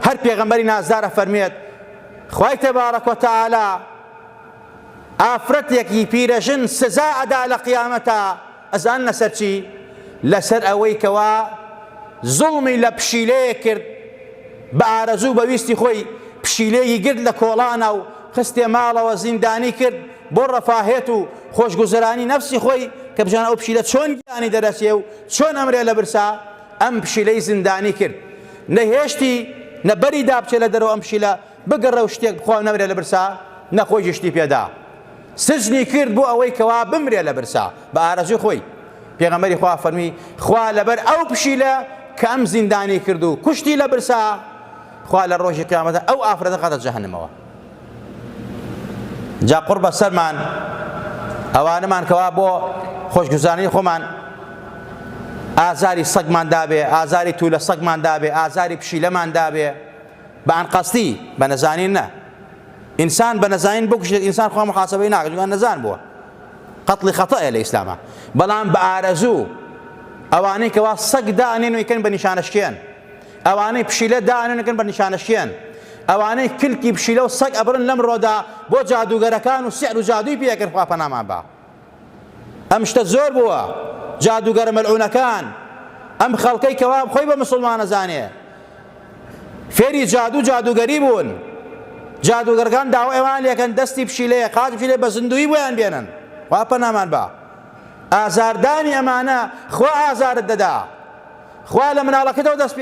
هەر پێغەمبەری نازدار ئەفەرموێت خوای تبارک و تعالی ئافرەتێکی پیرەژن سزا ئەدا لە قیامەتا ئەزان لەسەر چی لەسەر ئەوەی کەوا زوڵمی لە پشیلەیە کرد بە ئارەزوو بەویستی خۆی پشیلەیەکی گرت لە کۆڵانە و خستێ ماڵەوە زیندانی کرد بۆ ڕەفاهێت و خۆشگوزرانی نەفسی خۆی کە بژان ئەو پشیلە چۆن گیانی دەرەچێ و چۆن ئەمرێ لە برسا ئەم پشیلەی زیندانی کرد نەهێشتی نە بەری دابچێ لە دەرەوە ئەم پشیلە بگەڕێ و شتێک بخوا نەمرێ لە برسا نە خۆیشی شتی پێدا سجنی کرد بۆ ئەوەی کەوا بمرێ لە برسا بە ئارەزوی خۆی پێغەمبەری خوا فەرمی خوا لەبەر ئەو پشیلە کە ئەم زیندانی کرد و کوشتی لە برسا خوا لە ڕۆژی قیامەتە ئەو ئافرەتە خاتە جەهەنمەوە جا قوڕ بە سەرمان ئەوانەمان کەوا بۆ خۆشگوزانی خۆمان ئازاری سەگمان دابێ ئازاری تو لە سەگمان دابێ ئازاری پشیلەمان دابێ بە ئەنقەستی بە نەزانین نە ئینسان بە نەزانین بکوشێت ئینسان خۆ محاسبەی ناکەن نەزان بووە قەتڵی خەتەیە لە ئیسلامە بەڵام بە ئارەزوو ئەوانەی کەوا سەگ دانێن و یکەن بە نیشانەشکێن ئەوانەی پشیلە دانەنگن بە نیشانەشیان ئەوانەی کلکی پشیلە و سەگ ئەبرن لەم ڕۆدا بۆ جادوگەرەکان و سعر و جادوی پێکرد خوا پەنامان با ئەم شتە زۆر بووە جادوگەرە مەلعونەکان ئەم خەڵکەی کەوا خۆی بە مسلمانە زانێ فێری جادو جادوگەری بوون جادوگەرگان داوە ئەوان لەکەن دەستی پشیلەیە قاج پشیلێ بە زندوی بۆیان بێنن خوا پەنامان با ئازاردانی ئەمانە خوا ئازارت دەدا خوا لە مناڵەکەتەوە دەست پێ